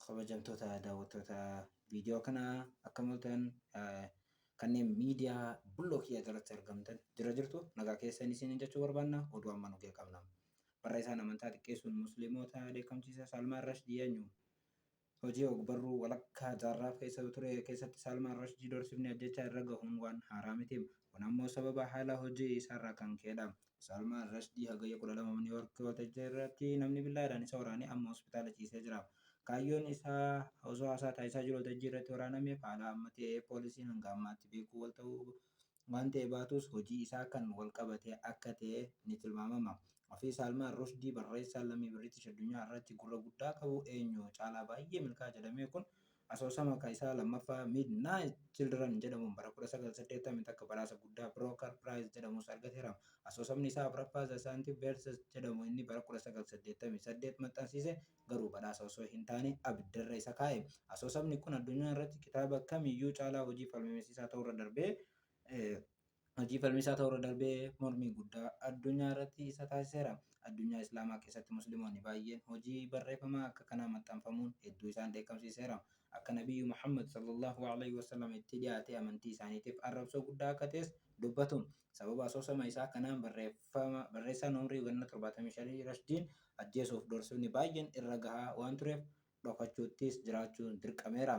kabajamtoota daawwattoota viidiyoo kanaa akka mul'atan kanneen miidiyaa bulloo kiyya jalatti argamtan jira jirtu nagaa keessan isin jechuu barbaanna oduu amma nu qabna. Barreessaan amantaa xiqqeessuun musliimota dheekkamsiisa Salmaan Rashdi eenyu? Hojii ogbarruu walakkaa jaarraa keessa ture keessatti Saalmaan Rashdiy doorsifni ajjeechaa irra gahuun waan haaraa miti. Kun ammoo sababa haala hojii isaarraa kan ka'edha. Saalmaan Rashdiy Hagayya 12 Niiw Yoork waltajjii irratti namni billaadhaan isa waraanee amma hospitaala ciisee jira. Kaayyoon isaa osoo haasaa taasisaa jiruu waltajjii irratti waraanameef haala amma ta'e poolisiin hanga ammaatti beekuu wal ta'uu waan ta'e baatus hojii isaa kan wal qabate akka ta'e ni tilmaamama. Ofii Saalmaan Rushdi barreessaa lammii Biritish addunyaa irratti gurra guddaa qabu eenyu caalaa baay'ee milkaa'a jedhamee kun asoosama ka isaa lammaffaa Midnight Children jedhamuun bara 1981 badhaasa guddaa Brooker Prize jedhamus argateera. Asoosamni isaa afraffaa The Scientific Verses jedhamu inni bara 1988 maxxansiise Garuu badhaasa osoo hintaane abiddarra isa kaa'e. Asoosamni kun addunyaa irratti kitaaba kamiyyuu caalaa hojii falmisiisaa ta'uurra darbee hojii falmisaa ta'uurra darbee mormii guddaa addunyaa irratti isa taasiseera. Addunyaa Islaamaa keessatti Muslimoonni baay'een hojii barreefamaa akka kanaa maxxanfamuun hedduu isaan dheekkamsiiseera. Akka Nabiyyu Muhammad, Sallallaahu Aleyhi Wasallam, itti dhiyaatee amantii isaaniitiif arrabsoo guddaa akka ta'es dubbatu. Sababa asoosama isaa kanaan barreeffama barreessaan umrii ganna 75 Rashdiin ajjeesuuf doorsifni baay'een irra gahaa waan tureef dhokachuuttis jiraachuun dirqameera.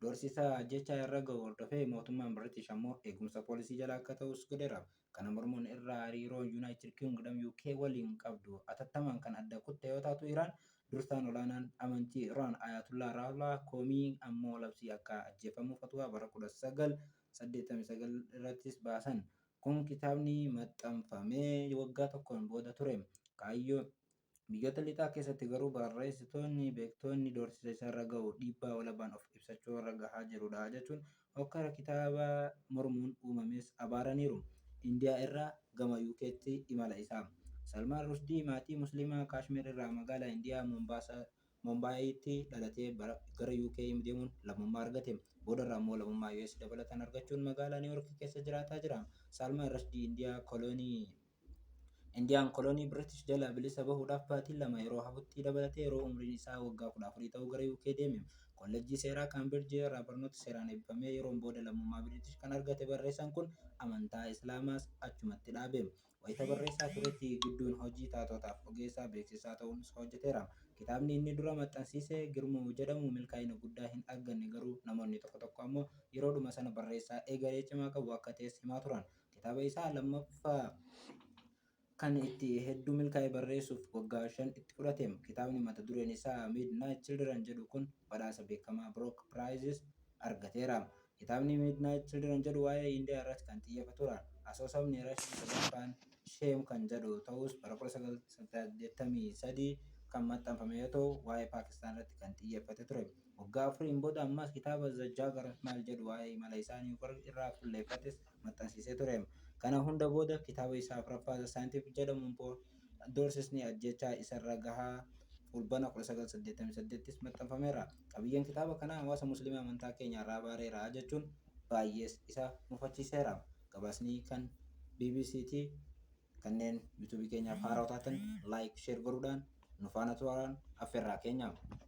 Doorsisa ajjeechaa irra gahu hordofee mootummaan Biritish ammoo eegumsa poolisii jala akka ta'us godheera. Kana mormuun irra hariiroo Yunaayitid Kingdom UK waliin qabdu atattamaan kan adda kutte yoo taatu Iraan dursaan olaanaan amantii Iraan Ayaatullaa Raahulaa Koomii ammoo labsii akka ajjeefamu fatwaa bara 19 89 irrattis baasan. Kun kitaabni maxxanfamee waggaa tokkoon booda ture. Kaayyoo, Biyyoota Lixaa keessatti garuu barreessitoonni, beektoonni doorsisa isarra gahu dhiibbaa walabaan of ibsachuu irra gahaa jirudha jechuun hokkara kitaaba mormuun uumames abaaraniiru. Indiyaa irraa gama UKtti imala isaa. Salmaan Rushdii maatii Muslimaa Kaashmiir irraa magaalaa Indiyaa Mombaasaa Mombaayiitti dhalatee bara gara UK deemuun lammummaa argate. Boodarra ammoo lammummaa US dabalataan argachuun magaalaa New York keessa jiraataa jira. Salman Rushdie Indiyaa kolonii Indiyaan kolonii British jalaa bilisa bahuudhaaf baatiin lama yeroo hafutti dabalatee yeroo umriin isaa waggaa 14 ta'u gara UK deeme. Kollejjii seeraa Cambridge irraa barnoota seeraan eebbifamee yeroon booda lammummaa British kan argate barreessaan kun amantaa Islaamaas achumatti dhaabe. Wayita barreessaa turetti Gidduun hojii taatotaaf ogeessaa beeksisaa ta'uunis hojjeteera. Kitaabni inni dura maxxansiise Girmuu jedhamu milkaa'ina guddaa hin arganne garuu namoonni tokko tokko ammoo yeroodhuma sana barreessaa egeree cimaa qabu akka ta'es himaa turan. Kitaaba isaa lammaffaa kan itti hedduu milkaa'e barreessuuf waggaa shan itti fudhateem. Kitaabni mata dureen isaa Midnight Children jedhu kun. badhaasa beekamaa Brock Prizes argateera. Kitaabni Midnight Children jedhu waa'ee Indiyaa irratti kan xiyyeefatuudha. Asoosamni Rashiin sadaffaan Shame kan jedhu ta'us bara 1983 kan maxxanfame yoo ta'u, waa'ee Paakistaan irratti kan xiyyeeffate ture. Waggaa afuriin booda ammas kitaaba The Jagger Smile jedhu waa'ee imala isaa New York irraa fulleeffates maxxansiisee ture. Kana hunda booda kitaaba isaa afraffaa The Scientific jedhamu immoo doorsisni ajjeechaa isarra gahaa Fulbana 19, 88 ttis maxxanfameera. Qabiyyeen kitaaba kanaa hawaasa Muslimaa amantaa keenya irraa abaareera jechuun baayyees isa mufachiiseera. Gabaasni kan bbc ti. Kanneen YouTube keenyaaf haarawaa taatan Like, Share godhuudhaan nu faana turaan affeerraa keenya.